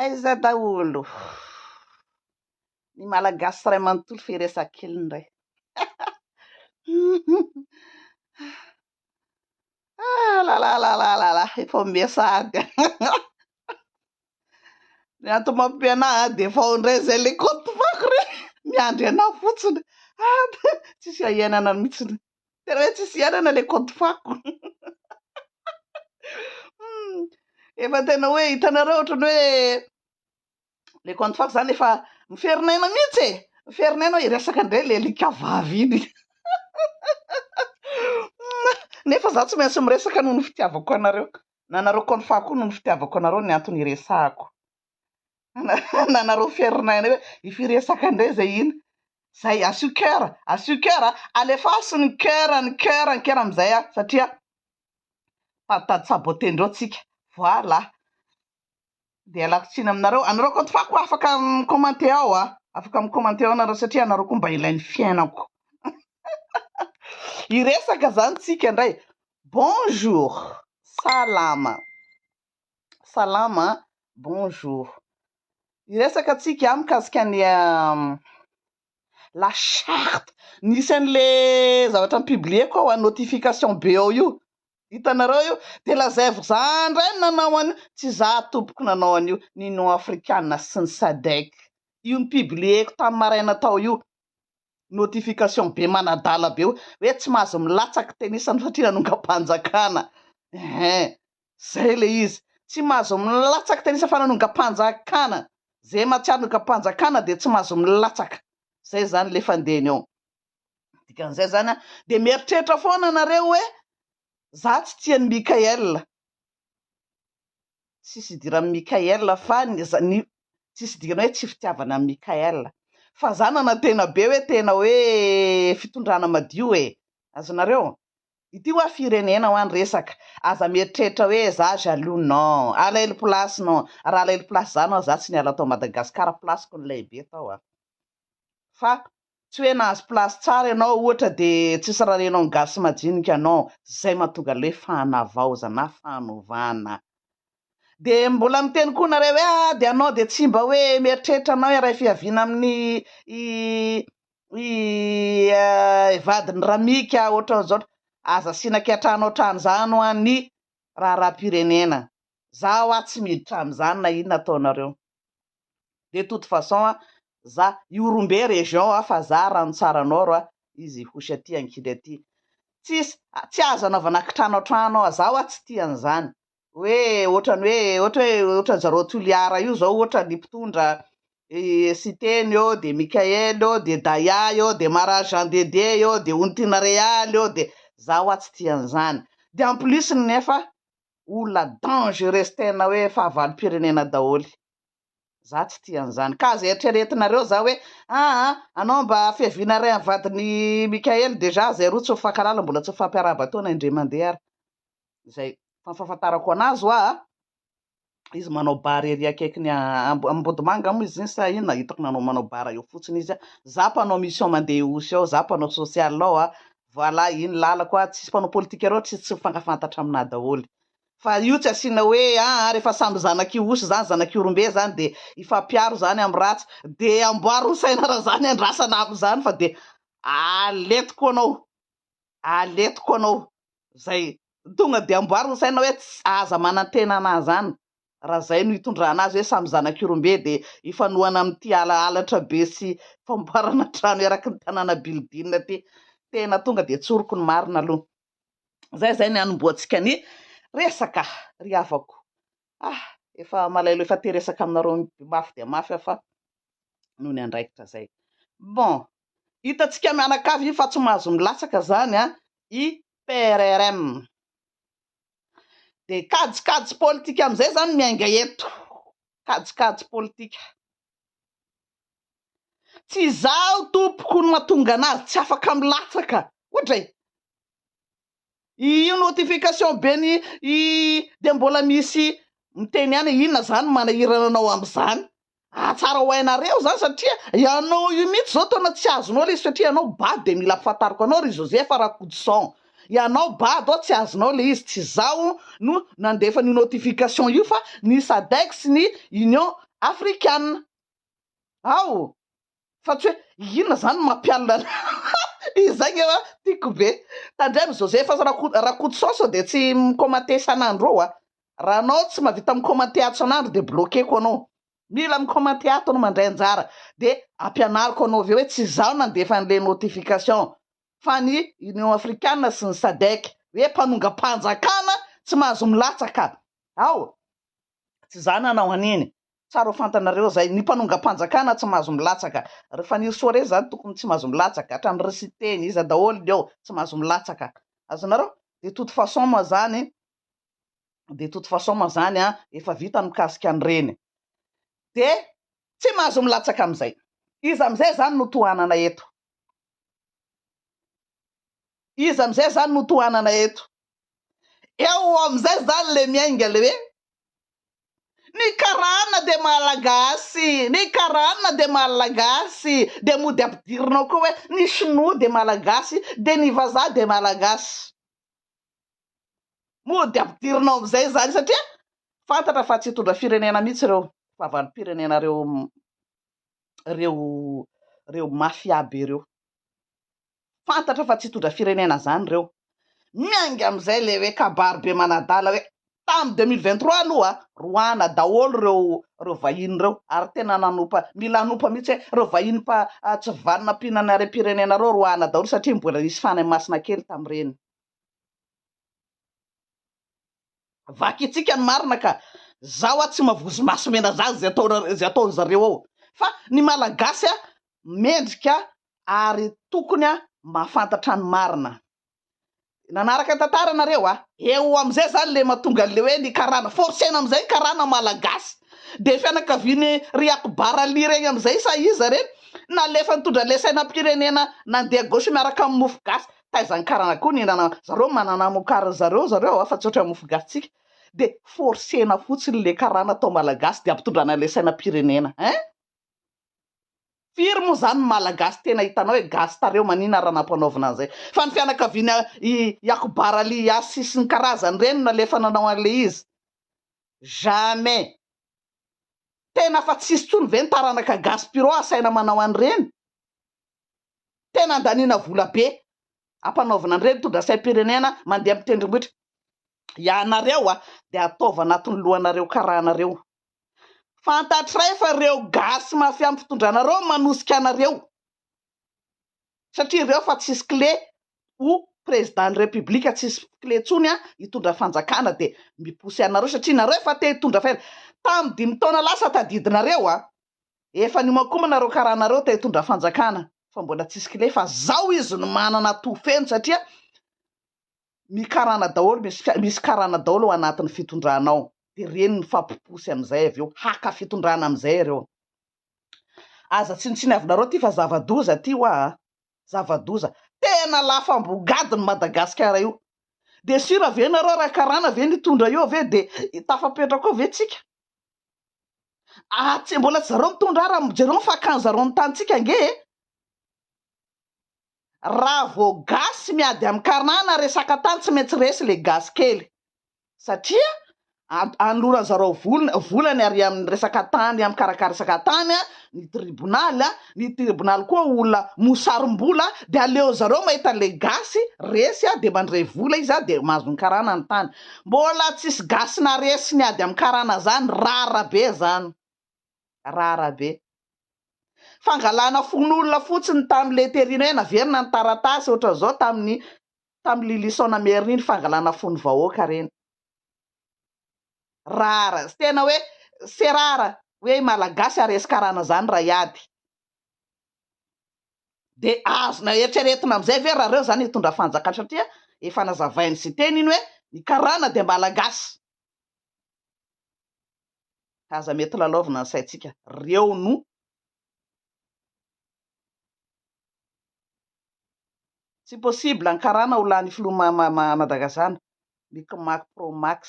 Aiza daholo ny malagasy iray manontolo fa hiresaka kely indray. Ah là là là là là là, efa ao mia sahady. Ny antony mampianà ah, dia efa ao indray izay le compte banky re, miandry anà fotsiny. Ah, tsisy iahiainana mihitsiny. Tena hoe tsisy hiainana ilay kaonty fako. Hmm, efa tena hoe hitanareo ohatran'ny hoe le kaonty fako zany efa miferinaina mihitsy e. Miferinaina hoe hiresaka indray le alika vavy iny. Nefa za tsy maintsy miresaka noho ny fitiavako anareo. Na anareo kaonty fako koa noho ny fitiavako anareo ny antony hiresahako. anareo fiarinana eo e, io firesaka indray izay iny, izay asio coeur, asio coeur a, alefaso ny coeur, ny coeur, ny coeur amin'izay a, satria mpanontany saboter-ndreo tsika, voilà, dia ialako tsiny aminareo, anareo koa fa koa afaka mi-commenter ao a, afaka mi-commenter ao nareo satria anareo koa mba ilain'ny fiainako, hiresaka izany tsika indray, bonjour, salama. Salama, bonjour. Hiresaka tsika ah mikasika ny la charte nisy an'le zavatra mi-publier-ko ao a notification be ao io, hitanareo io? De lazaivy za ndray no nanao an'io, tsy za tompoko nanao an'io, ny Union Afrikana sy ny Sadec, io ni-publier-ko tamin'ny maraina tao io. notification be manadala be hoe tsy mahazo milatsaky tenisany satria nanongam-panjakana eeh zay le izy tsy mahazo milatsaky tenisa fa nanongam-panjakana zay mahatsiaro nongam-panjakana dia tsy mahazo milatsaka zay zany le fandehany ao dikan'izay zany dia mieritreritra foana nareo hoe za tsy tian'i Mickaël tsisy idiran'i Mickaël fa ny za- ny tsisy idirana hoe tsy fitiavana an'i Mickaël fa zanana tena be hoe tena hoe fitondrana madio e azonareo ity hoa firenena hoa ny resaka aza mieritreritra hoe za jaloux non alailo place non raha alailo place za non za tsy niala tao Madagascar place-ko ny lehibe tao a fa Tsy hoe nahazo place tsara ianao ohatra de tsisy raha renao ny gasy majinika non, zay mahatonga le hoe fanavaozana, fanovana. De mbola miteny koa nareo hoe ah de anao de tsy mba hoe mieritreritra anao hiaray fihaviana amin'ny i i eh vadin'i ramika ohatran'izao, aza asiana ankiantrano ohatran'izany hoa ny raharaham-pirenena, za hoa tsy miditra amin'izany na inona ataonareo. de toute façon a za io rombe région a fa za rano tsara nord a izy hosy aty ankidy aty tsisy tsy azo anaovana kitrano antrano a zaho a tsy tia an'izany hoe otrany hoe ohatra hoe otrany zareo toliara io zao ohatra ny mpitondra siteny eo de mickael eo de daya eo de mara jean dede eo de ontina real eo de zaho a tsy tia an'izany de en plus nefa olona dangereux tena hoe fahavalom-pirenena daholo. Za tsy tia an'izany. Ka zay eritreretinareo za hoe aa anao mba fiaviana iray amin'ny vadin'i Mickaël déjà zay roa tsy mifankalala mbola tsy mifampiarahaba taona indray mandeha ary. Zay fa ny fahafantarako anazy hoa izy manao bar ery akaikin'i Ambo- Ambodimanga moa izy iny sa inona hitako nanao manao bar eo fotsiny izy a. Za mpanao mission mandeha Ihosy ao, za mpanao social ao a. Voilà iny lalako ah, tsisy mpanao politika reo tsy tsy mifankafantatra aminah daholo. Fa io tsy asiana hoe aa refa samy zanakio osy zany zanakio rombe zany de hifampiaro zany am ratsy de amboary ho saina ra zany andrasana am zany fa de aletiko anao aletiko anao zay tonga de amboary ho saina hoe aza manantena anah zany raha izay no itondrana azy hoe samy zanak'irombe dia ifanohana amin'ity ala halatra be sy famboarana trano eraky ny tanàna bildina ity. Tena tonga dia tsoriko ny marina aloha. Izay izay ny hanombohantsika ny resaka ry havako. Ah, efa malaelo efa te resaka aminareo mafy dia mafy aho fa noho ny andraikitra izay. Bon, hitantsika mianakavy fa tsy mahazo milatsaka izany an, i PRRM. dia kajikajy politika amin'izay izany miainga eto, kajikajy politika. Tsy izaho tompoko no mahatonga an'azy tsy afaka milatsaka, ohatra e! Io notification be ny dia mbola misy miteny ihany hoe inona izany manahirana anao amin'izany? Ahatsara ho hainareo izany satria ianao io mihitsy izao taona tsy azonao ilay izy satria ianao bado dia mila ampafantariko anao ry Joseph Rakotoson. Ianao bado aho tsy azonao ilay izy, tsy izaho no nandefa an'io notification io fa ny SADEC sy ny Union Afrikana. Ao! fa tsy hoe inona zany no mampianina anao izay nge wa tiako be tandremo Joseph sy Rako- Rakotoson sao dia tsy mi-commenter isan'andro eo a raha anao tsy mahavita mi-commenter ato isan'andro dia bloquer-ko anao mila mi-commenter ato anao mandray anjara dia ampianariko anao avy eo hoe tsy izaho nandefa an'ilay notification fa ny Union Africana sy ny Sadec hoe mpanongam-panjakana tsy mahazo milatsaka ao Tsy za nanao an'iny. Tsara ho fantanareo zay. Ny mpanongam-panjakana tsy mahazo milatsaka. Ry Fanirisoa re zany tokony tsy mahazo milatsaka. Hatrany ry Siteny, iza daholo ny eo tsy mahazo milatsaka. Azonareo? De toute façon moa zany, de toute façon moa zany an, efa vita ny mikasika an'ireny. De tsy mahazo milatsaka am'izay. Iza am'izay zany no tohanana eto? Iza amin'izay zany no tohanana eto? Eo amin'izay zany le miainga le hoe ny karana dia malagasy, ny karana dia malagasy, dia mody ampidirinao koa hoe ny sinoa dia malagasy, dia ny vazaha dia malagasy. Mody ampidirinao amin'izay zany satria fantatra fa tsy hitondra firenena mihitsy ireo vavan'mpirenena reo reo reo mafia be reo. fantatra fa tsy hitondra firenena izany ireo. Miainga amin'izay ilay hoe kabary be manadala hoe tamin'ny deux mille vingt trois aloha roahina daholo ireo ireo vahiny ireo ary tena nanompa mila hanompa mihitsy hoe ireo vahiny mpa tsy vanona mpihinana harem-pirenena ireo roahina daholo satria mbola nisy fanahy masina kely tamin'ireny. vakintsika ny marina ka zaho a tsy mavozo maso mena za zay ataonareo zay ataony zareo ao fa ny malagasy a mendrika ary tokony a mahafantatra ny marina nanaraka ny tantara nareo a eo amizay zany le matonga anle hoe ny karana forcena amizay ny karana malagasy de fianakaviany ry akbar ali regny amizay sa iza reny nalefa nitondra le sainam-pirenena nandeha gauche miaraka amin'ny mofo gasy taiza ny karana koa ny hihinana zareo manana amokariny zareo zareo afa tsy ohatran'ny mofo gasy tsika dia forcena fotsiny le karana atao malagasy dia ampitondrana ilay sainam-pirenena hein firy moa zany ny malagasy tena hitanao hoe gasy tareo manina raha nampanaovina an'izay fa ny fianakaviana i Yakubar Ali Yassi sy ny karazany ireny no nalefa nanao an'ilay izy jamais tena fa tsisy tsony ve ny taranaka gasy pirou asaina manao an'ireny Tena andaniana vola be ampanaovina an'ireny tondrasaim-pirenena mandeha amin'ny tendrombohitra. Ianareo dia ataovy anatin'ny lohanareo karahanareo. Fantatray fa ireo gasy mafia amin'ny fitondranareo no manosika anareo. Satria ireo efa tsisy kle ho prezidan'ny repoblika, tsisy kle intsony hitondra fanjakana dia miposy anareo satria nareo efa te hitondra fela. Tamin'ny dimy taona lasa tadidinareo Efa niomankomana reo karana reo te hitondra fanjakana fa mbola tsisy kle fa zao izy no manana atoa feno satria mi karana daholo misy misy karana daholo ao anatiny fitondrana ao de reny mifampiposy amizay avy eo haka fitondrana amizay ireo aza tsinotsiniavinareo ty fa zava doza ty hoa a zava doza tena lafambo gady ny madagasikara io de sira ve nareo raha karana ve nitondra eo ve de tafapetraka ao ve tsika Ah tsy mbola tsy zareo mitondra ara mijereo ny fakany zareo ny tanintsika ange e! Raha vao gasy miady amin'ny karana resaka tany tsy maintsy resy le gasy kely satria anoloran'ny zareo vola volany ary amin'ny resaka tany amin'ny karakara resaka tany ny tribonaly ny tribonaly koa olona mosarim-bola dia aleon'zareo mahita an'ilay gasy resy dia mandray vola izy dia mahazo ny karana ny tany Mbola tsisy gasy naresy ny ady am karana zany rara be zany rara be fangalana fon'olona fotsiny tam le terina hoe naverina ny taratasy otran'zao tamin'ny tam lylison na merina iny fangalana fon'ny vahoaka reny rara tena hoe c'est rare hoe i malagasy haresy karana zany raha hiady. dia azona eritreretina amin'izay ve raha reo zany hitondra fanjakana satria efa nazavain'i siteny iny hoe ny karana dia malagasy ka aza mety lalaovina ny saintsika reo no tsy possible ny karana ho lany filoha ma ma ma madagazana mic mac pro max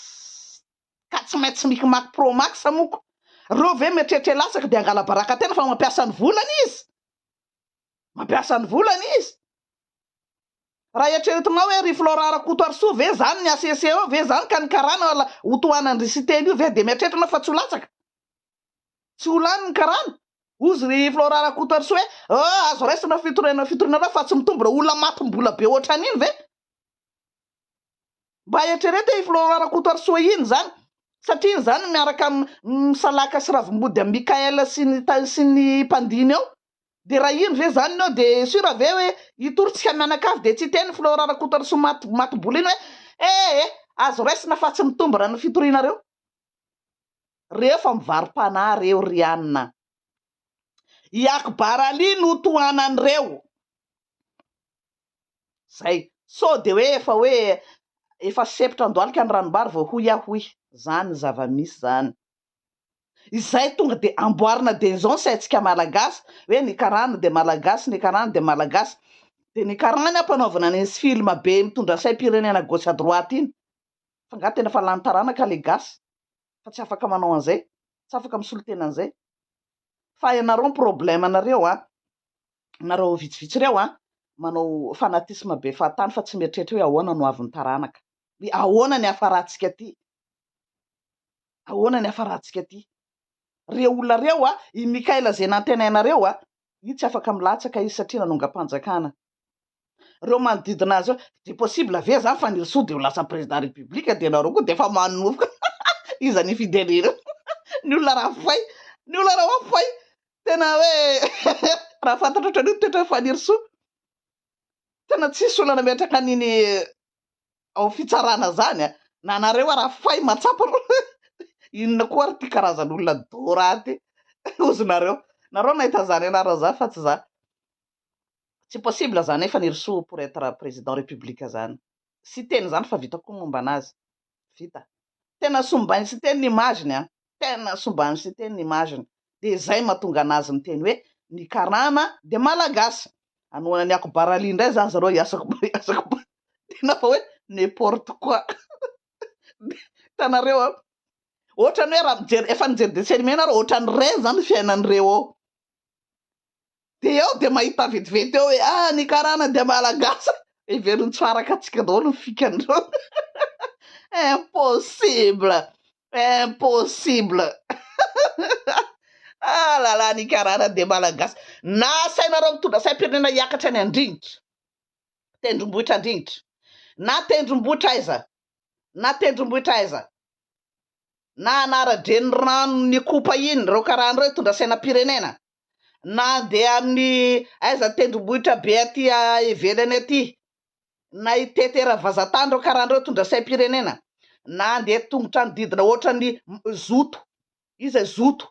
ka tsy maintsy mic mac pro max moko, reo ve mieritreritra hilatsaka de hangalabaraka tena fa mampiasa ny volany izy mampiasa ny volany izy raha eritreretinao hoe ry Florent Rakotoarisoa ve zany ny HCC eo ve zany ka ny karana ho tohanan dry Siteny io ve de mieritreritra anao fa tsy ho latsaka tsy ho lany ny karana ozy ry Florent Rakotoarisoa hoe oh azo raisina fitoriana fitorianareo fa tsy mitombona olona matim-bola be otran'iny ve Mba eritrereto i Florent Rakotoarisoa iny izany satria iny izany miaraka amin'i Salaka sy Ravimbody amin'i Mickaël sy ny sy ny mpandiny ao dia raha iny ve izany no dia sûr ve hoe hitory tsika mianakavy dia tsy hiteny Florent Rakotoarisoa maty maty bola iny hoe eh eh azo raisina fa tsy mitombina ny fitorianareo reo fa mivarom-panahy reo ry an i Akbar Ali no tohanan'ireo. Zay. Sao de hoe efa hoe efa sempotra an-dohalika ny ranombary vao hoy aho hoy. Zany ny zava-misy zany. Izay tonga de amboarina de izao ny saintsika malagasy hoe ny karana de malagasy, ny karana de malagasy. De ny karana ampanaovina an'iny film be mitondra saim-pirenena à gauche à droite iny. Fa nga tena fa lany taranaka le gasy fa tsy afaka manao an'izay, tsy afaka misolo tena an'izay. Fa ianareo ny problème anareo an. nareo vitsivitsy ireo an, manao fanatisme be fahatany fa tsy mieritreritra hoe ahoana no havin'ny taranaka. Hoe ahoana ny hafarantsika aty. Ahoana ny hafarantsika aty. Ireo olona ireo an, i Mickaël izay nantenainareo an, io tsy afaka milatsaka izy satria nanongam-panjakana. reo manodidina azy de possible ve zany fanirisoa de ho lasa président république de nareo koa de efa manoroka iza ny fidèle ny olona raha fay ny olona raha oa fay tena hoe raha fantatra otrany io toetra fanirisoa tena tsisy olona nametraka an'iny ao fitsarana zany a na nareo a raha fay matsapa ro inona koa ary ty karazan'olona doraty ozy nareo nareo nahita zany anara zany fa tsy za Tsy possible zany efa nirisoa pour etre président république zany Siteny zany fa vita koa ny momba anazy. Vita. Tena sombain'i Siteny ny image-ny an! Tena sombain'i Siteny ny image-ny. Dia zay mahatonga anazy miteny hoe ny karana dia malagasy. Hanohana an'i Ako Barali indray zany zareo i Asako Asako Barali. Tena fa hoe n'importe quoi. Hitanareo an! Ohatrany hoe raha mijery, efa nijery dessin animé nareo, ohatrany reny zany ny fiainan'ireo ao. dia ao dia mahita vetivety eo hoe ah ny karana dia malagasy heveriny tsy ho araka antsika daholo ny fikan'ireo impossible impossible ah là là ny karana dia malagasy na asainareo mitondra saim-pirenena hiakatra any andringitra tendrombohitra andringitra na tendrombohitra aiza na tendrombohitra aiza na anara-drenirano ny kopa iny ireo karana ireo hitondra sainam-pirenena na handeha amin'ny aiza tendrombohitra be aty ivelany aty, na hitety eravazantany ireo karana ireo hitondra saim-pirenena, na handeha tongotra ny didina ohatran'ny zoto, iza e zoto,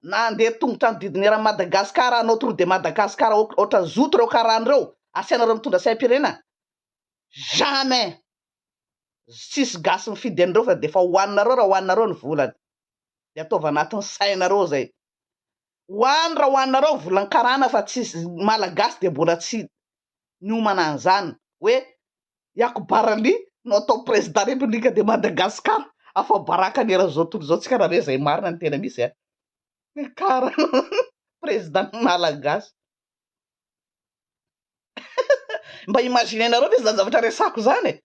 na handeha tongotra ny didina eran'i Madagasikara hanao tour de Madagascar ohatran'ny zoto ireo karana ireo asianareo mitondra saim-pirenena? jamais! tsisy gasy mifidy an'ireo fa dia efa hohaninareo raha hohaninareo ny volany, dia ataovy anatin'ny sainareo izay. Hoany ra hoanareo volankarana fa tsy malagasy dia mbola tsy niomana anzany hoe Yako Barali no atao président république de Madagascar afa baraka ny eran'izao tontolo izao tsika ra ve zay marina ny tena misy a karana président ny malagasy mba imaginer nareo ve zany zavatra resako zany e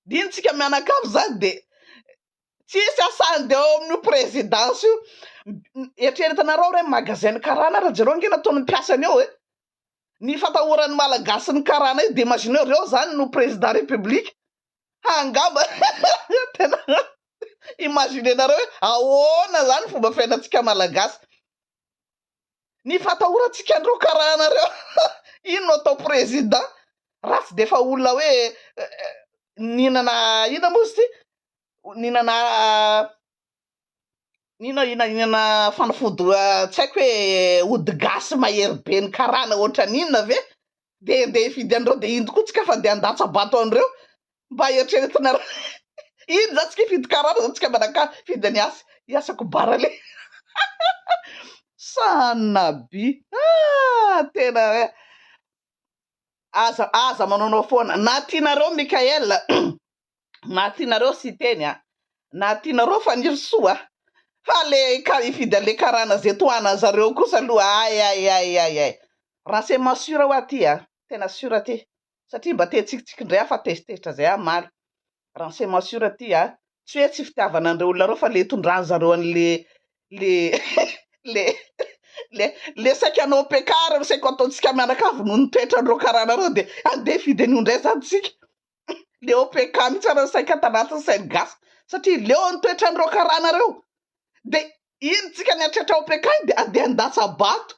dino tsika mianakavy zany de Tsisy asany de ao amin'io présidence io. Eritreretanareo re ny magasin ny karana ary jereo ange nataon'ny mpiasany eo e. Ny fatahoran'ny malagasy ny karana io de imagineo reo zany no président république ha angamba tena imaginenareo hoe ahoana zany fomba fiainantsika malagasy. Ny fatahorantsika andreo karaha anareo iny no atao président raha tsy defa olona hoe nihinana inona moa izy ity nihinana inona inona inona fanafody tsy haiko hoe ody gasy mahery be ny karana ohatran'inona ve dia andeha hifidy an'ireo dia indro koa tsika fa dia handatsa-bato an'ireo Mba eritreretina ra iny za tsika hifidy karana za tsika manakara hifidy ny asa hiasako bara le sanina by ah tena hoe aza aza manaonao foana na tianareo Michael na tianareo Siteny a na tianareo Fanirisoa fa le ka hifidy an'le karana ze tohanan'ny zareo kosa aloha ay ay ay ay ay raha c'est ma sure hoa ty a tena sure ty satria mba te hitsikitsiky indray aho fa tezitezitra izay aho omaly raha ny c'est ma sure aty a, tsy hoe tsy fitiavana an'ireo olona ireo fa le itondran-dry zareo an'le le le le le saika hanao mpekara no saika ataontsika mianakavy noho ny toetran'ireo karana ireo dia andeha hifidy an'io indray izany isika le OPK mihitsy ary saika ato anatin'ny sain'ny gasy satria leo ny toetran'ireo karana ireo dia iny tsika niatratra OPK iny dia andeha handatsa-bato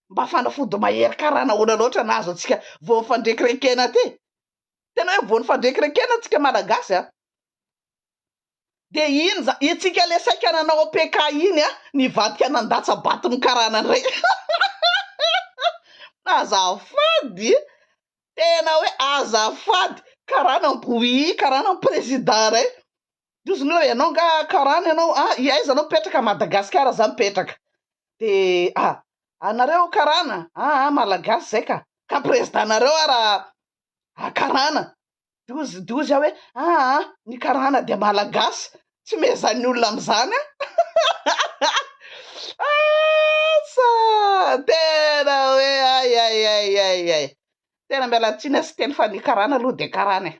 mba fanafody mahery karana ahoana loatra no azontsika voan'ny fandrekirekena aty? Tena hoe voan'ny fandrekirekena tsika malagasy an! Dia iny izany, itsika ilay saika nanao PK iny an, nivadika nandatsa-baton'ny karana indray. Azafady e! Tena hoe azafady! Karana am-boui, karana am-prezida indray. Ndrozy ny hoe ianao nga karana ianao a i aiza anao mipetraka a Madagascar za mipetraka de a anareo karana a a malagasy zay ka ka président nareo ara a karana dozy dozy aho hoe a a ny karana dia malagasy tsy mezan'ny olona amzany a asa tena hoe ay ay ay ay ay tena miala tsiny a siteny fa ny karana aloha dia karana e.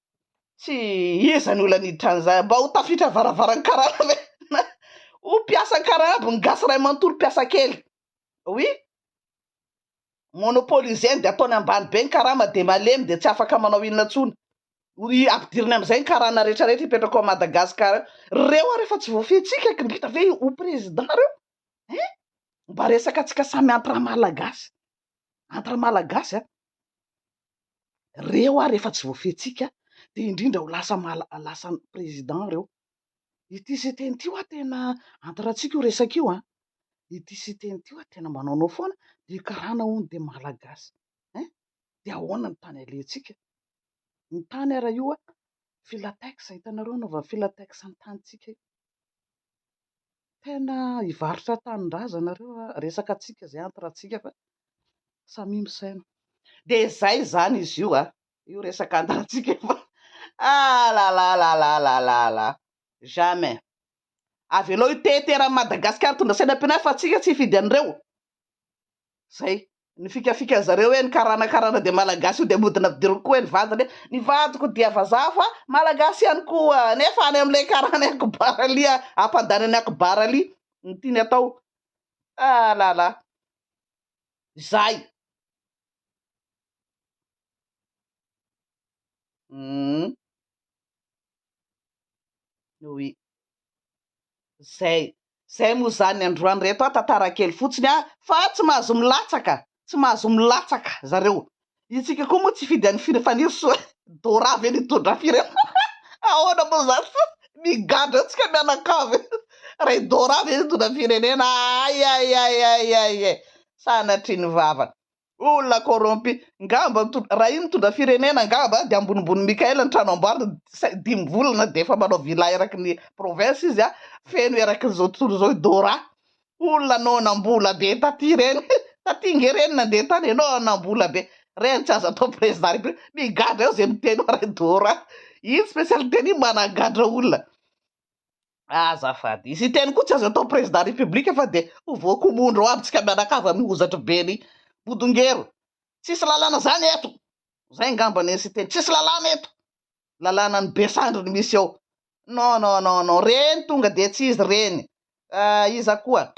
Tsy iza ny olana hiditra an'izay? Mba ho tafiditra varavaran'ny karana ve? Na ho mpiasa karana aby ny gasy iray manontolo mpiasa kely? Oui, monopoliser ny dia ataony ambany be ny karama dia malemy dia tsy afaka manao inona intsony. Hoy ampidiriny amin'izay ny karana rehetra rehetra hipetraka ao Madagascar. Reo ary efa tsy voafentsika ky mbita ve ho président reo? Hein? Mba resaka antsika samy entre malagasy. Entre malagasy a. reo ary efa tsy voafehitsika dia indrindra ho lasa lasa président reo, ity Siteny ity hoa tena Andry Ratsika io resaka io an, ity Siteny ity hoa tena manaonao foana dia karana hono dia Malagasy eh, dia ahoana ny tany alentsika, ny tany ary io hoa filatex hitanareo anaovana filatex ny tanintsika io. Tena hivarotra tanindrazana reo a, resaka antsika zay entre antsika fa samia misaina. Dia izay izany izy io a, io resaka entre antsika io fa alalalalalalalala jamais. Avelao hiteheteran'i Madagascar mitondra sainam-pirenena fa antsika tsy hifidy an'ireo. Zay. Ny fikafikan zareo hoe ny karana karana dia malagasy io dia mody nampidiriko koa hoe ny vadiny hoe ny vadiko dia vazaha fa malagasy ihany koa nefa any amin'ilay karana akbar ali ampandany an'i akbar ali no tiany atao ah la la izay hum oui Zay. Zay moa zany androany reto a tantara kely fotsiny a fa tsy mahazo milatsaka tsy mahazo milatsaka zareo itsika koa moa tsy hifidy any fir faniry soa dora ve no hitondra firenena ahoana moa zany fa migadra eo tsika mianakavy e ray dora ve no hitondra firenena ayayayayayay sanatrian'ny vavany Olona corrompu. Ngamba raha iny mitondra firenena ngamba dia ambonimbony Mickael ny trano amboariny sai dimy volana dia efa manao villa eraky ny province izy a, feno eraky izao tontolo izao i Dora. Olona no nambola be taty reny. Taty nge reny nandeha tany enao a nambola be. Reny tsy azo atao president repub. Migadra eo ze miteny oa ray Dora. Iny specialite-ny iny managadra olona. Azafady. I Siteny koa tsy azo atao président république fa dia ho voako mondro ho abintsika mianakavy amin'ny hozatry ben'i Bodongero. Tsisy lalàna zany eto. Zay ngamba neny Siteny. Tsisy lalàna eto. Lalànan'i Besandry no misy eo. Non non non non reny tonga dia tsy izy reny. Ah, iza koa?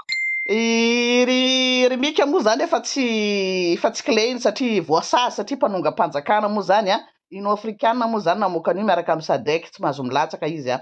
I ry ry Mika moa zany efa tsy efa tsy klehiny satria voasazy satria mpanongam-panjakana moa zany an. Union africana moa zany namoaka an'io miaraka amin'ny Sadec tsy mahazo milatsaka izy an.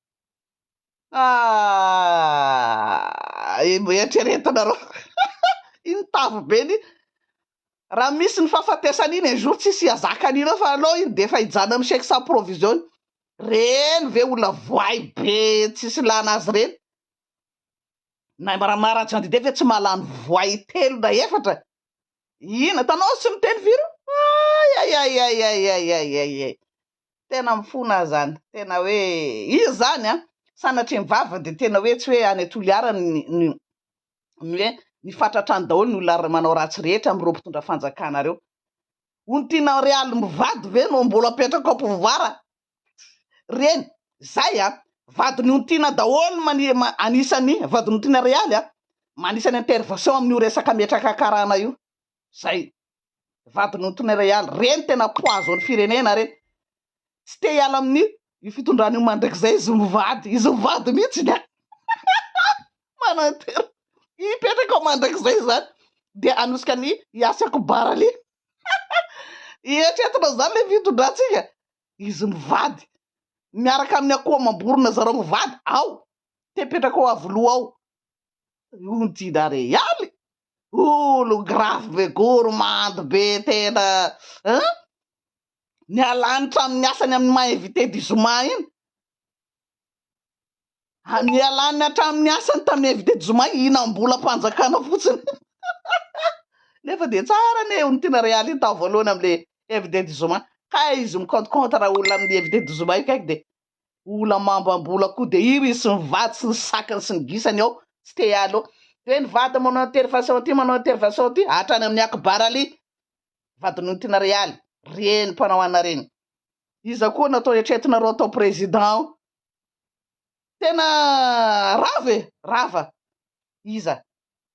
Aah! Eritreretinareo iny tavy be iny raha misy ny fahafatesana iny un jour tsisy hihazaka an'ireo fa aleo iny dia efa hijanona amin'ny chèque sans provision iny. Reny ve olona voay be tsisy ilana azy reny? Na Rama Rajandide ve tsy mahalany voay telo na efatra? Inona? Hitanao azy tsy miteny firy io? Ayayayayayayayay! Tena mifona aho izany, tena hoe izy izany an! Sanatria ny vavany dia tena hoe tsy hoe any Toliara ny ny hoe ny fatratra any daholo ny olona manao ratsy rehetra amin'ireo mpitondra fanjakana ireo. Hono tianao re aly mivady ve no mbola apetraka ao pouvoir a! Reny, izay an! Vadin'i Ontiana daholo no mani- ma- anisan'ny vadin'Ontiana re aly an! Anisan'ny intervention amin'io resaka metraka karana io. Izay. vadin'Antonio Real. Ireny tena poison ny firenena ireny. Tsy te hiala amin'io io fitondrana io mandrakizay izy mivady. Izy mivady mihitsy ny manantena hipetraka ao mandrakizay izany dia hanosika ny Yassi Akbar Ali. Eritreretina izany ilay fitondrantsika. Izy mivady miaraka amin'ny akoho amam-borona zareo mivady ao te hipetraka ao Avoloha ao. Io ny tiana Real. Olo grave be gourmande be tena hein! Nialany tranony asany aminy maha invité du zoma iny ah nialany atraminy asany taminy invité du zoma hinambola panjakana fotsiny nefa dia tsara anie io no tena realite tao voalohany amle invité du zoma kay izy mi compte compte raha olona aminy invité du zoma io kaiky dia Mbola mambambola koa dia iry sy ny vady sy ny sakany sy ny gisany ao tsy te hiala eo. Dia ny vady manao intervention aty manao intervention aty hatrany amin'ny Akbar Ali, vadin'Ontina Realy, reny mpanao anà reny. Iza koa no atao eritreretinareo atao président ao? Tena rava e! Rava! Iza?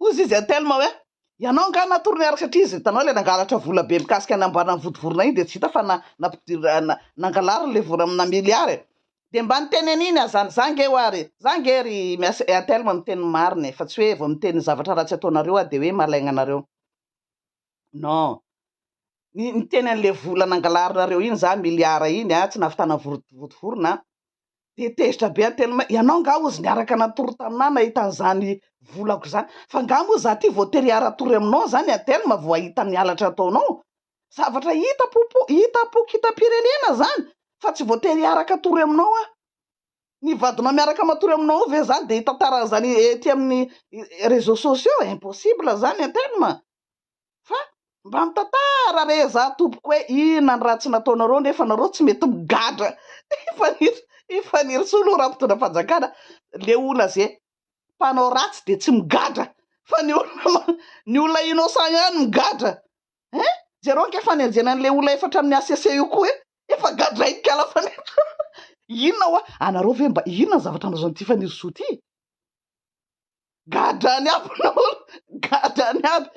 Hoy izy an'i Telma hoe, Ianao angaha natory niaraka satria izy hitanao ilay nangalatra vola be mikasika ny amboaran'ny vodivorona iny dia tsy hita fa nangalariny ilay vola amina miliara e! Dia mba niteny an'iny aza any, za nge ho'a ry, za nge ry Miasy, Telma miteny ny marina e, fa tsy hoe vao miteny zavatra ratsy ataonareo aho dia hoe malaigna anareo. Non. Ny niteny an'ilay vola nangalarinareo iny za, miliara iny a, tsy nahavitana vodivorona a. dia tezitra be any Telma, ianao angaha hozy niaraka natory taminà nahita an'izany volako izany? Fa angaha moa izaho ity voatery hiara-tory aminao izany any Telma vao hahita ny halatra ataonao? Zavatra hita popo, hita pokitam-pirenena izany fa tsy voatery hiaraka tory aminao aho. Ny vadinao miaraka matory aminao ao ve izany dia hitantara an'izany ety amin'ny réseaux sociaux? Impossible izany an Telma. Fa mba mitantara re za tompoko hoe inona ny ratsy nataonareo nefa nareo tsy mety migadra i Fanir i Fanirisoa lo raha mpitondra fanjakana le olona ze mpanao ratsy de tsy migadra fa ny olona ny olona innocent ihany migadra eh jereo ny kafanenjena an'le olona efa hatramin'ny HCC io koa eh efa gadrain'ny kala Fanirisoa inona hoa anareo ve mba inona ny zavatra nalazain'ity Fanirisoa ity Gadrany aby ny olona, gadrany aby.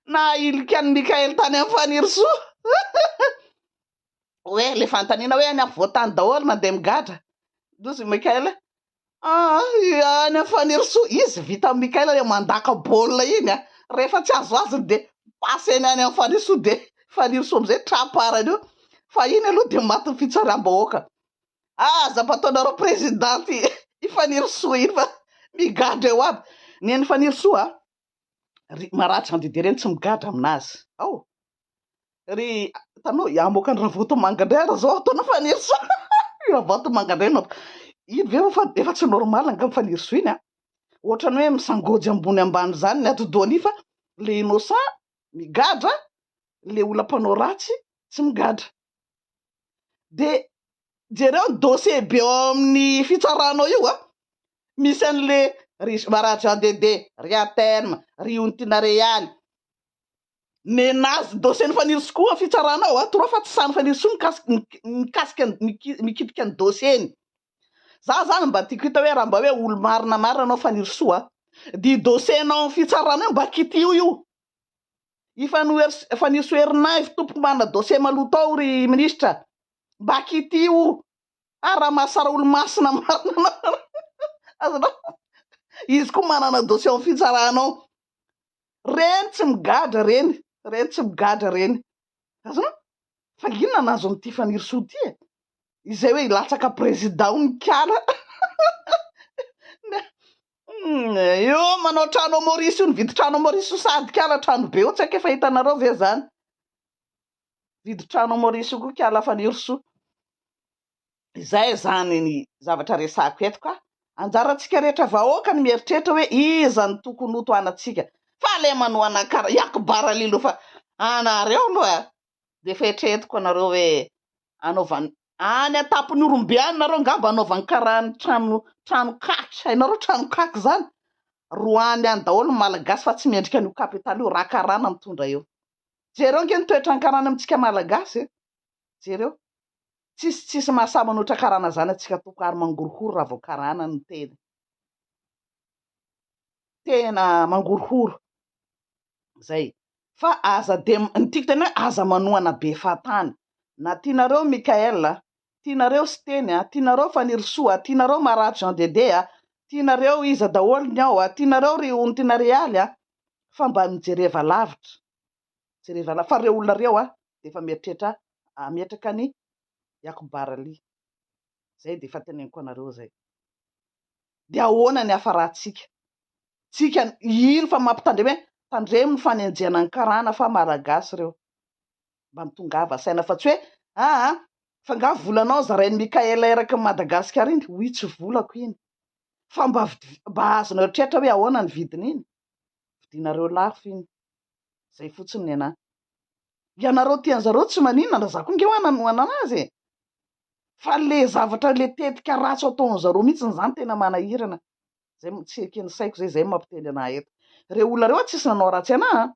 Nahahilika an'i Mickael tany amin'i Fanirisoa. Hoe ilay fanontaniana hoe any afovoan-tany daholo mandeha migadra. Ndrozy i Mickael hoe ah, any amin'i Fanirisoa. Izy vita amin'i Mickael ilay mandaka baolina iny. Rehefa tsy azo azony dia passeny any amin'i Fanirisoa dia Fanirisoa amin'izay tra-parany eo. Fa iny aloha dia matin'ny fitsaram-bahoaka. Aza mba ataonareo président i Fanirisoa iny fa migadra eo aby. Neny Fanirisoa a, ry Marary Jean Didier ireny tsy migadra aminazy ao. Ry hitanao hamoaka an'i Ravatomanga indray ary zao ataon'i Fanirisoa. I Ravatomanga indray no iny ve efa efa tsy normal angamba Fanirisoa iny a. Ohatrany hoe misangoajy ambony ambany zany ny atidohany fa le innocent migadra, le olona mpanao ratsy tsy migadra. dia jereo ny dossier be ao amin'ny fitsaranao io an! misy an'le ry Bara Jean Dede, ry Aterme, ry Ontina Real, nenazy dossier-n'i Fanirisoa ny fitsarana ao an! toa fa tsy sahin'i Fanirisoa mikasika ny mikasika ny mikitika ny dossier-ny, za zany mba tiako hita hoe raha mba hoe olo-marina marina anao Fanirisoa an! dia io dossier-nao amin'ny fitsarana io mba kitiho io. Ifanoherz Faniso Ernaivo tompoko manana dossier maloto ao ry ministra mba kitio ary raha mahasara olomasina marina anao ry azonao izy koa manana dossier ao fitsarana ao reny tsy migadra reny reny tsy migadra reny azonao fa inona no azony ity fanirisoa ity e izay hoe hilatsaka prezida ao ny kala Humm io manao trano ao Maurice io nividy trano ao Maurice io sady kala trano be io tsy haiko efa hitanareo ve zany nividy trano ao Maurice io koa kala Fanirisoa izay izany ny zavatra resahako eto ka anjarantsika rehetra vahoaka ny mieritreritra hoe iza no tokony ho tohanantsika fa ilay manohana kara i Akbar Ali aloha fa anareo aloha dia efa eritreretiko anareo hoe anaovan Any an-tampon'Ihorombe any nareo angamba anaovany karaha ny trano trano kaky, hainareo trano kaky zany? Roahany any daholo ny Malagasy fa tsy mendrika an'io Kapitaly io, raha karana mitondra eo. Jereo ange ny toetran'ny karana amintsika Malagasy e! Jereo. Tsisy tsisy mahasahy manoatra karana zany antsika tompoko ary mangorohoro raha vao karana ny teny. Tena mangorohoro. zay. Fa aza de ny tiako tena hoe aza manohana be fahatany na tianareo Mickaël a, tianareo Siteny a, tianareo Fanirisoa a, tianareo Marary Jean Dédé a, tianareo iza daholo ny ao a, tianareo ry Ontina Realy a, fa mba mijereva lavitra, jereva lavitra fa reo olona reo a de efa mieritreritra hametraka an'i Yacoub Barali, zay de efa teneniko anareo zay. dia ahoana ny hafarantsika? Tsika ino fa mampitandrema hoe tandremo ny fanenjehana ny karana fa maragasy ireo. Mba tongava saina fa tsy hoe aa fa nga volanao zarain'i Mickaël erakin'i Madagascar iny? Oui tsy volako iny. Fa mba mba azonao eritreritra hoe ahoana ny vidin'iny? vidianareo lafo iny, zay fotsiny nenahy, ianareo tian zareo tsy maninona na za koa nge oa nanohana anazy e, fa le zavatra le tetika ratsy ataon zareo mihitsy ny zany tena manahirana, zay tsy ekeny saiko zay, zay mampiteny anahy eto, reo olona reo tsisy nanao ratsy anahy an,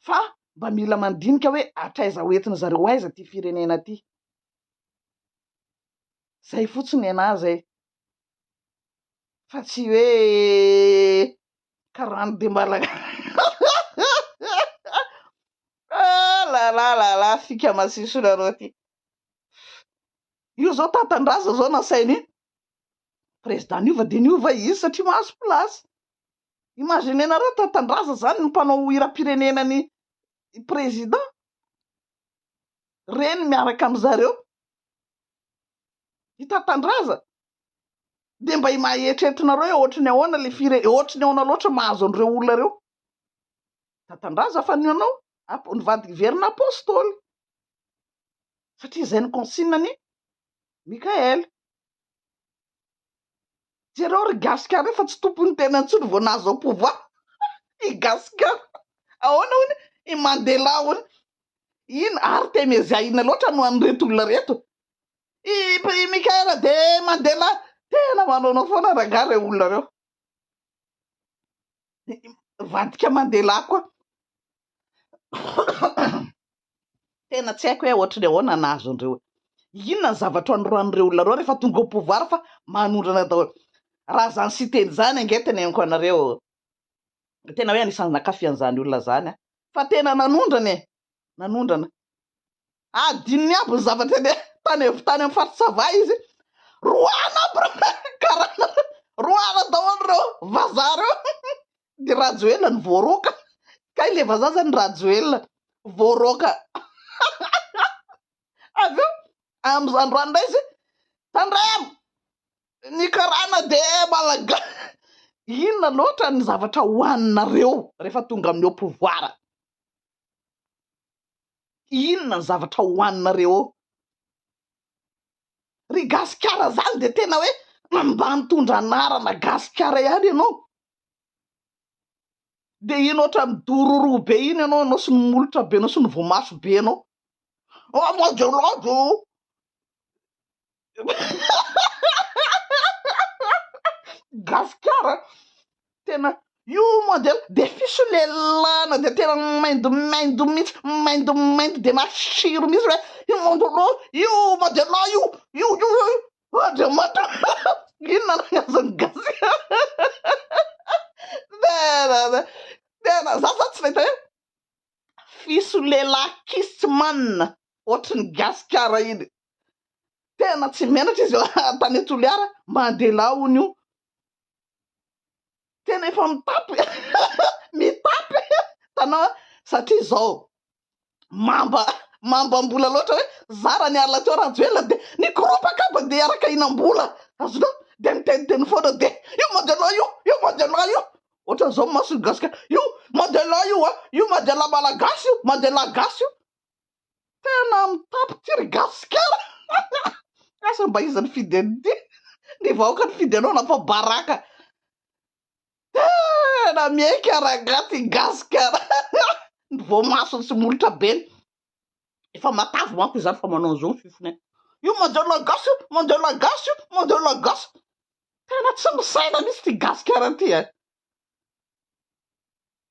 fa mba mila mandinika oe hatraiza ho entin zareo ho aiza ty firenena ty, zay fotsiny nenahy zay, fa tsy hoe karana dia malagasy fika masiso nareo ty io zao tantandraza zao nasaina iny président niova dia niova izy satria mahazo place imaginez nareo tantandraza zany ny mpanao hiram-pirenena ny président reny miaraka amizareo i Tatandraza dia mba maeritreretinareo hoe ohatry ny ahoana ilay fire, ohatry ny ahoana loatra mahazo an'ireo olona ireo. Tatandraza fa ny anao ap- ny vady hiverina apostoly satria izay ny consigne-ny Mickaël. Jereo ry gasy kara efa tsy tompony tena intsony vao nahazo au pouvoir i gasy kara ahoana hono i Mandela hono iny artemezia inona loatra no an'ireto olona reto i i Michael de Mandela tena manaonao foana rangah ireo olona ireo vadika Mandela koa Tena tsy haiko hoe ohatry ny ahoana ny nahazo an'ireo hoe inona ny zavatra anoroan'ireo olona ireo rehefa tonga au pouvoir fa manondrana daholo. Raha izany Siteny izany ange teneniko anareo tena hoe anisan'ny nakafy an'izany olona izany aho fa tena nanondrana e! nanondrana. Adinony aby ny zavatra eny tany tany amin'ny faritra Sava izy roahina aby ireo karana ireo, roahina daholo ireo vazaha ireo. de rajoelina no voaroaka kay le vazaha zany rajoelina voaroaka avy eo amza androany ndray izy tandremo ny karana de malaga inona loatra ny zavatra hoaninareo rehefa tonga amin'ny au pouvoir inona ny zavatra hoaninareo eo ry gasikara zany de tena hoe mba nitondra anarana gasikara ihany ianao dia iny ohatran'ny dororo be iny ianao, ianao sy ny molotra be anao sy ny voamaso be anao, oh mon dieu lord oh gasikara tena io mon dieu dia fisolelana dia tena maindomaindo mihitsy maindomaindo dia matsiro mihitsy hoe io mon dieu lord io mon dieu lord io io io io Andriamanitra inona no azon'ny gasy tena tena za zany tsy nahita hoe fisolelà kissman ohatry ny gasikara iny tena tsy menatra izy tany toliara mandela hono io tena efa mitapy mitapy tanao satria zao mamba mambam-bola loatra hoe zara ny alina teo Rajoelina dia ny groupe kaba dia araka hinam-bola azonao dia miteniteny foana dia io Majala io io Majala io ohatran'izao ny mason'ny gasy ka io Majala io a io Majala malagasy io Majala gasy io tena mitapy ty ry gasikara asa mba iza nifidy an'ity ny vahoaka nifidy anao na fa baraka Tena miaika rangahy ty gasikara ny voamasony sy molotra be ny efa matavy manko izany fa manao an'izao ny fifiny any io mandeha la gasy io mandeha la gasy io mandeha la gasy tena tsy misaina mihitsy ty gasikara ty a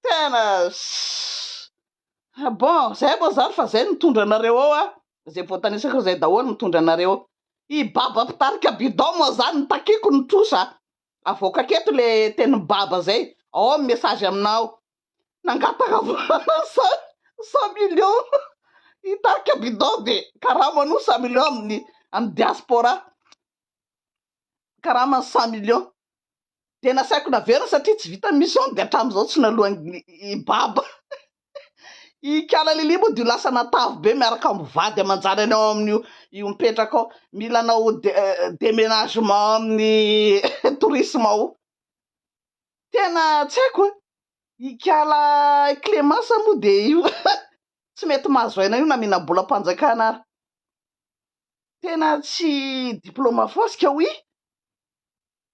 tena ssss bon zay moa zany fa zay nitondra anareo ao an izay voatanisako izay daholo nitondra anareo ao i baba mpitarika bidon moa zany ny takiako ny trosa avoakako eto le tenin'i baba zay ao amin'ny message aminà ao nangataka vola cent cent millions hitarika bidon de karama an'io cent millions amin'ny amin'ny diaspora karamany cent millions de nasaiko naverina satria tsy vitan'ny mission de hatramin'izao tsy naloan'ny i baba Ikala Lily moa dia ho lasa natavy be miaraka amin'ny vady aman-janany ao amin'io io mipetraka ao. Mila hanao déménagement amin'ny tourisme ao. Tena tsy haiko e. Ikala Clémence moa dia io tsy mety mahazo aina io na mihinam-bolam-panjakana ary. Tena tsy diplôme foasika oui.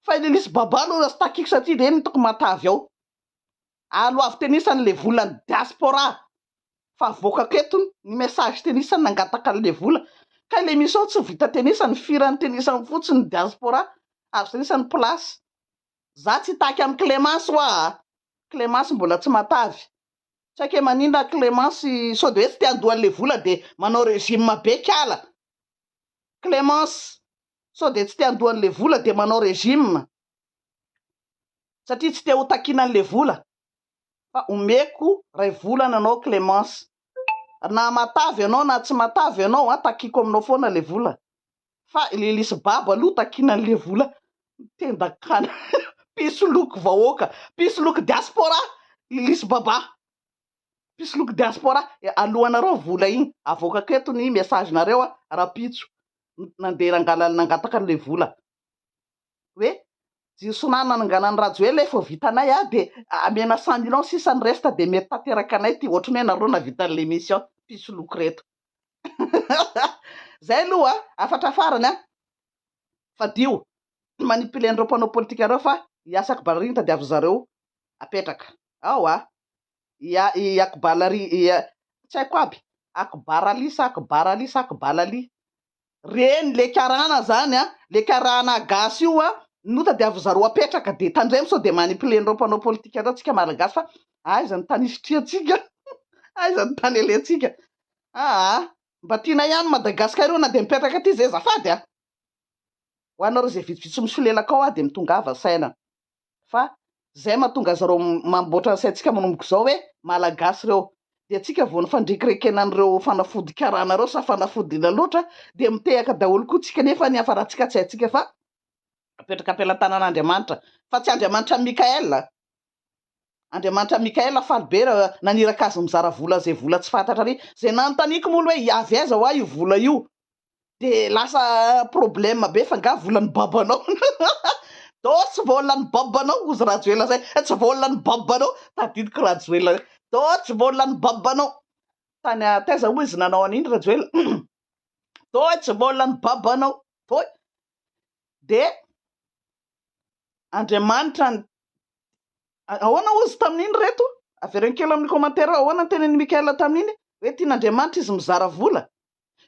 Fa ilay lisy baba aloha tsy takiko satria ireny hitako matavy ao. Ary ho avy tenisa an'ilay vola ny diaspora fa avoakako eto ny message tenisa nangataka an'ilay vola. Ka ilay misy ao tsy vita tenisa, ny firan'ny tenisa ao fotsiny ny diaspora azo tenisa ny place. Za tsy hitaky amin'i Clemence hoa a! Clemence mbola tsy matavy. Tsy haiko hoe maninona Clemence sao dia hoe tsy te handoa an'ilay vola dia manao regime be kala. Clemence, sao dia tsy te handoa an'ilay vola dia manao régime satria tsy te ho takiana an'ilay vola fa omeko iray volana anao Clémence na matavy ianao na tsy matavy ianao an, takiako aminao foana ilay vola fa ilay lisy babo aloha takiana an'ilay vola tendak'ala mpisoloky vahoaka mpisoloky diaspora lisy baba. mpisoloky diaspora alohanareo vola iny avoakako eto ny message nareo a rapitso nandeha nangalany nangataka anle vola hoe jiro sonar nananganany rajoelina efa vitanay a de amena cent millions sisa ny resta de mety tanteraka anay ty ohatrany hoe nareo navita anle mission mpisoloky reto zay aloha afatra farany a fadio manipuler anreo mpanao politika reo fa hiasako ballerine tadiavin zareo apetraka ao a i Akbalali i tsy haiko aby Akbarali sa Akbarali sa Akbalali reny le karana zany a le karana gasy io a no tadiavin zareo apetraka de tandremo sao de manipuler nireo mpanao politika reo tsika malagasy fa aiza ny tany isitrihantsika aiza ny tany alentsika aa mba tiana ihany Madagascar io na de mipetraka aty zay zafady a ho anareo zay vitsivitsy misolelaka ao a de mitongava saina fa zay mahatonga azy reo mamboatra ny saintsika manomboka izao hoe malagasy ireo dia tsika vao ny fandrekirekena an'ireo fanafody karana ireo sa fanafody ila loatra dia mitehaka daholo koa tsika nefa ny hafarantsika tsy haintsika fa apetraka am-pelantanan'Andriamanitra fa tsy Andriamanitra Mikael Andriamanitra Mikael faly be raha naniraka azy mizara vola izay vola tsy fantatra ary izay nanontaniako moa aloha hoe hiavy aiza hoa io vola io de lasa problème be fa nga volan'ny babanao do tsy volan'ny babanao ozy rajoela zay tsy volan'ny babanao tadidiko rajoela do tsy volan'ny babanao tany taiza moa izy nanao an'iny rajoela do tsy volan'ny babanao do de andriamanitra ny ahoana ozy tamin'iny reto avereno kely amin'ny commentaire ahoana ny tenin'i Mickaël tamin'iny hoe tian'andriamanitra izy mizara vola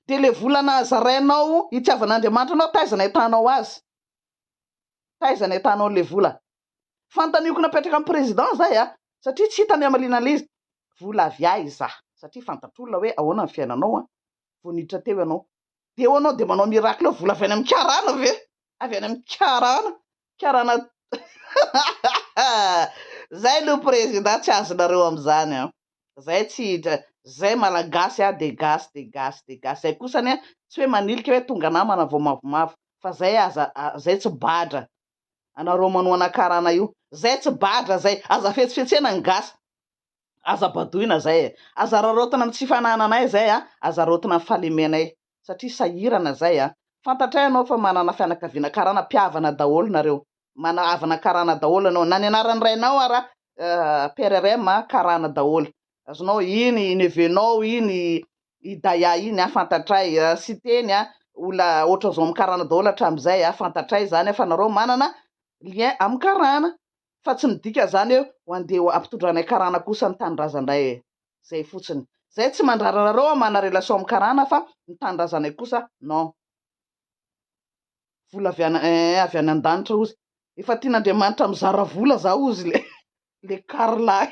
dia ilay vola nazarainao hitiavan'Andriamanitra anao taiza no ahitanao azy? Taiza no ahitanao an'ilay vola? Fanontaniako napetraka an'i Président izay an! Satria tsy hita ny hamaliana an'ilay izy. Vola avy aiza? Satria fantatr'olona hoe ahoana ny fiainanao an! Vao niditra teo ianao. Dia eo ianao dia manao miracle eo, vola avy any amin'ny karana ve? Avy any amin'ny karana? karana Zay no président tsy azonareo amzany an! Zay tsy hidra Zay malagasy an de gasy de gasy de gasy Zay kosa anie tsy hoe manilika hoe tonga namana vao mavomavo fa Zay aza Zay tsy badra anareo manohana karana io Zay tsy badra Zay aza fetsifetsena ny gasy aza badoina Zay e! Aza raraotina am tsy fanananay Zay an! Aza raotina am fahalemenay satria sahirana zay a! Fantatray anao fa manana fianakaviana karana, mpihavana daholo nareo, mana havana karana daholo anao, na ny anaran'ny rainao ara PRRM karana daholo, azonao, iny i neveu nao iny i Daya iny a, fantatray, Siteny a, olona ohatran'zao amin'ny karana daholo hatramin'izay a, fantatray zany a, fa nareo manana lien amin'ny karana, fa tsy midika izany hoe ho andeha ho ampitondranay karana kosa ny tanindrazanay e! zay fotsiny, zay tsy mandrara anareo aho mana relation amin'ny karana fa ny tanindrazanay kosa non! vola avy any eh avy any andanitra ozy efa tian'Andriamanitra mizara vola za ozy le le karlahy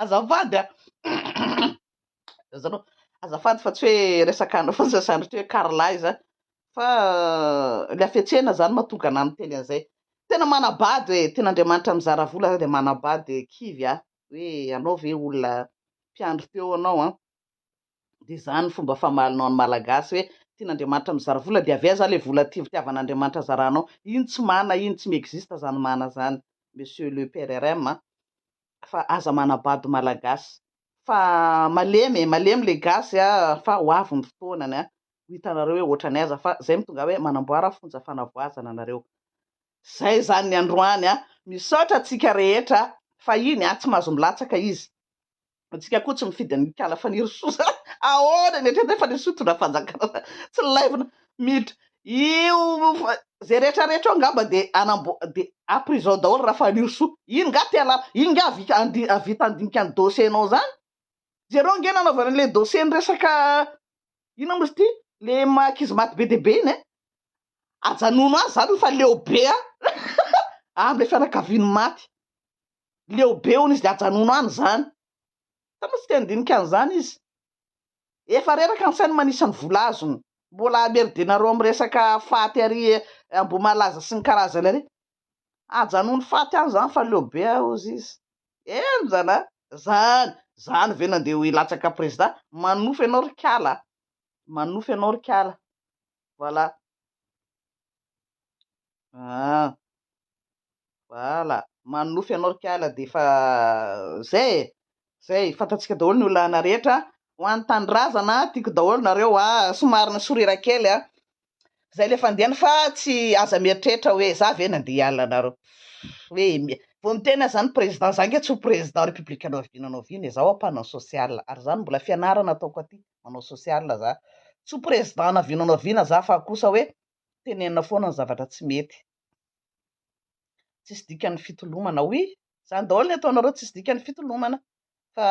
azafady a! Zany hoe azafady fa tsy hoe resaka anao fotsiny izany ry hoe Carla izany fa ilay hafetsena izany mahatonga anah miteny an'izay. Tena manabado e, tena Andriamanitra mizara vola ary dia manabado dia kivy aho hoe ianao ve olona mpiandry teo ianao an, dia izany ny fomba famalinao ny Malagasy hoe tian'Andriamanitra mizara vola dia avy aiza ilay vola tia fitiavan'Andriamanitra zaranao, iny tsy mana iny, tsy mi-existe izany mana izany Monsieur le PRRM an, fa aza manabado malagasy fa malemy e malemy le gasy a fa ho avy ny fotoanany a ho hitanareo hoe ohatran'ny aiza fa zay mitongà hoe manamboara fonja fanavoazana nareo zay zany ny androany a misaotra antsika rehetra fahiny a tsy mahazo milatsaka izy antsika koa tsy mifidy ny kala fanirisoa ahoana ny hatreto e fanirisoa hitondra fanjakana tsy laivina miditra Io zay rehetra rehetra eo ngamba de anambo de a prison daholo Rafalirosoa iny nga te alala iny nga avika andi avita andinika ny dossier nao zany jereo nge nanaovana anle dossier ny resaka inona moa izy ty le maha ankizy maty be dia be iny eh ajanony azy zany fa leo be an amle fianakaviany maty leo be hono izy de ajanony any zany sa moa tsy te andinika an'zany izy Efa reraka ny sainy manisa ny vola azony. Mbola hameridenareo amin'ny resaka faty ary Ambohimalaza sy ny karazany ary. Ajanony faty any zany fa leo be ah ozy izy. Enjana a! Zany! Zany ve no andeha ho hilatsaka président? Manofy ianao ry kala a! Manofy ianao ry kala. Voilà. Ah! Voilà! Manonofy anao ry kala dia efa zay e! Zay, fantatsika daholo ny olana rehetra a! Ho an'ny tanindrazana, tiako daholo nareo a! Somary ni-sourire kely a! Zay le fandehany fa tsy aza mieritreritra hoe za ve nandeha hiala anareo? Hoe vao miteny aza ny président, za ange tsy ho président république hanao vina hanao vina e! Za hoa mpanao social ary zany mbola fianarana ataoko aty, manao social za, tsy ho président hanao vina hanao vina za fa kosa hoe tenenina foana ny zavatra tsy mety. Tsisy dikany ny fitolomana oui, zany daholo ny ataonareo tsisy dikany ny fitolomana fa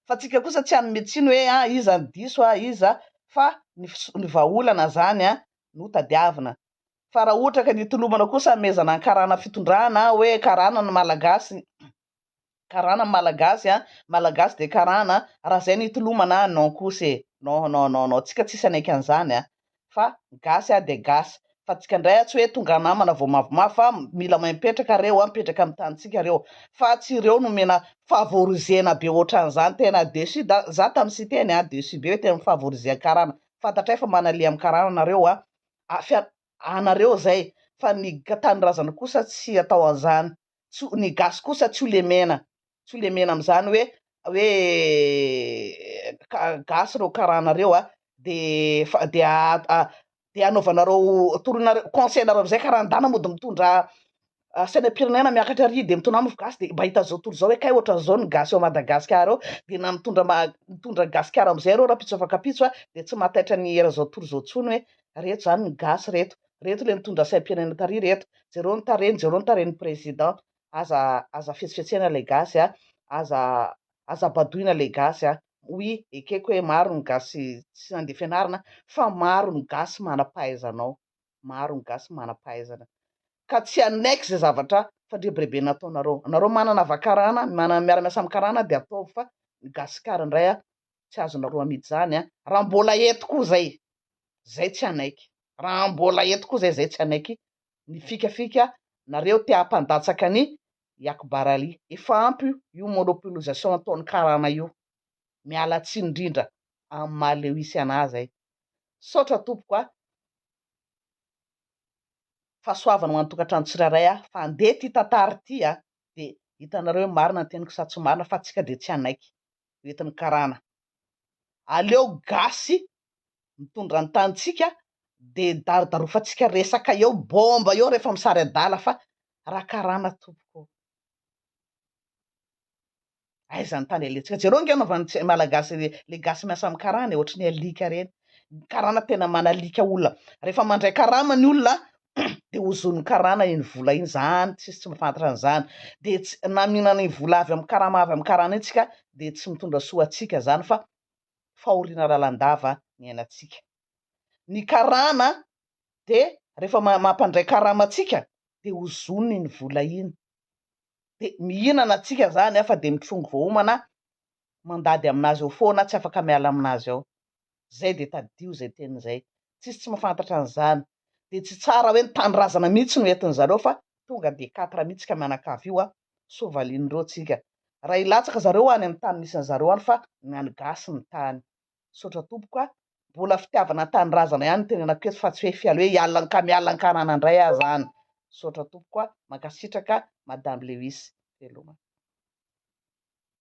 fa tsika kosa tsy hanome tsiny hoe ah iza no diso ah iza fa ny ny vahaolana zany an no tadiavina fa raha ohatra ka ny hitolomana kosa hamehezana ny karana fitondrana hoe karana ny malagasy karana ny malagasy a, malagasy dia karana a, raha zay no itolomana a, non kosa e, non non non non, tsika tsisy hanaiky an'izany a, fa gasy a dia gasy, fa tsika ndray a tsy hoe tonga namana vao mavomavo fa mila mahay mipetraka reo a, mipetraka amin'ny tanintsika reo fa tsy reo no omena favorizena be otran'izany, tena deçu da za tamin'i Siteny a, deçu be hoe tena mifavoriser karana, fantatray fa manaliha amin'ny karana nareo a, a, fia, anareo zay fa ny tanindrazana kosa tsy atao an'izany. tsy ny gasy kosa tsy ho lemena tsy ho lemena amin'izany hoe hoe gasy ireo karana ireo a de de de anaovanareo toroinareo conseil nareo amizay karandana mody mitondra sainam-pirenena miakatra ary de mitondra mofo gasy de mba hita zao tontolo zao hoe kay ohatran'izao ny gasy ao Madagasikara ao de na mitondra mitondra gasikara amizay ireo rahampitso afa-kapitso a de tsy mahataitra ny eran'izao tontolo izao tsony hoe reto zany ny gasy reto reto le mitondra saim-pirenena tary reto jereo ny tarehiny jereo ny tarehiny président aza aza fetsifetsena le gasy a aza aza badoina le gasy a oui ekeko hoe maro ny gasy tsy nandeha fianarana fa maro ny gasy manam-pahaizana ao maro ny gasy manam-pahaizana ka tsy hanaiky ze zavatra fandrebirebe nataonareo anareo manana vakarana manana miara-miasa amin'ny karana dia ataovy fa ny gasikara indray a tsy azonareo amidy zany a! Raha mbola eto koa zay, zay tsy hanaiky, raha mbola eto koa zay, zay tsy hanaiky ny fikafika nareo te hampandatsaka ny i Akbar Ali. Efa ampy io monopolisation ataon'ny karana io. Miala tsiny indrindra amin'ny maha lewisy anah zay. Misaotra tompoko a! Fahasoavana ho an'ny tokantrano tsirairay a! Fa andeha ity tantara ity a! Dia hitanareo hoe marina ny teniko sa tsy marina fa antsika dia tsy hanaiky. hoentin'ny karana. Aleo gasy mitondra ny tanintsika de darodarofantsika resaka eo bomba eo rehefa misary adala fa raha karana tompoko ô. Aiza ny tany alentsika. Jereo ange anaovan'ny malagasy le gasy miasa amin'ny karana e, ohatry ny alika reny. Ny karana tena manalika olona. Rehefa mandray karama ny olona de hozon'ny karana iny vola iny zany tsisy tsy mafantatra an'izany de tsy na mihinana iny vola avy amin'ny karama avy amin'ny karana iny tsika de tsy mitondra soa antsika zany fa fahoriana lalandava ny ainantsika ny karana de rehefa mampandray karama antsika de hozoniny iny vola iny de mihinana antsika zany afa de mitrongy voahomana mandady amin'azy eo foana tsy afaka miala amin'azy eo Zay dia tadidio zay teny zay. Tsisy tsy mafantatra an'izany. Dia tsy tsara hoe ny tanindrazana mihitsy no entin zareo fa tonga dia quatre mihitsy ka mianakavy io an. Sao valian'ireo tsika. Raha hilatsaka zareo any amin'ny tany misy an'zareo any fa ny an'ny gasy ny tany. Misaotra tompoko a. Mbola fitiavana ny tanindrazana ihany no tenenako eto fa tsy hoe fial hoe hiala anka miala ankarana indray aza any. Misaotra tompoko a. Mankasitraka Madame Lewis. Veloma.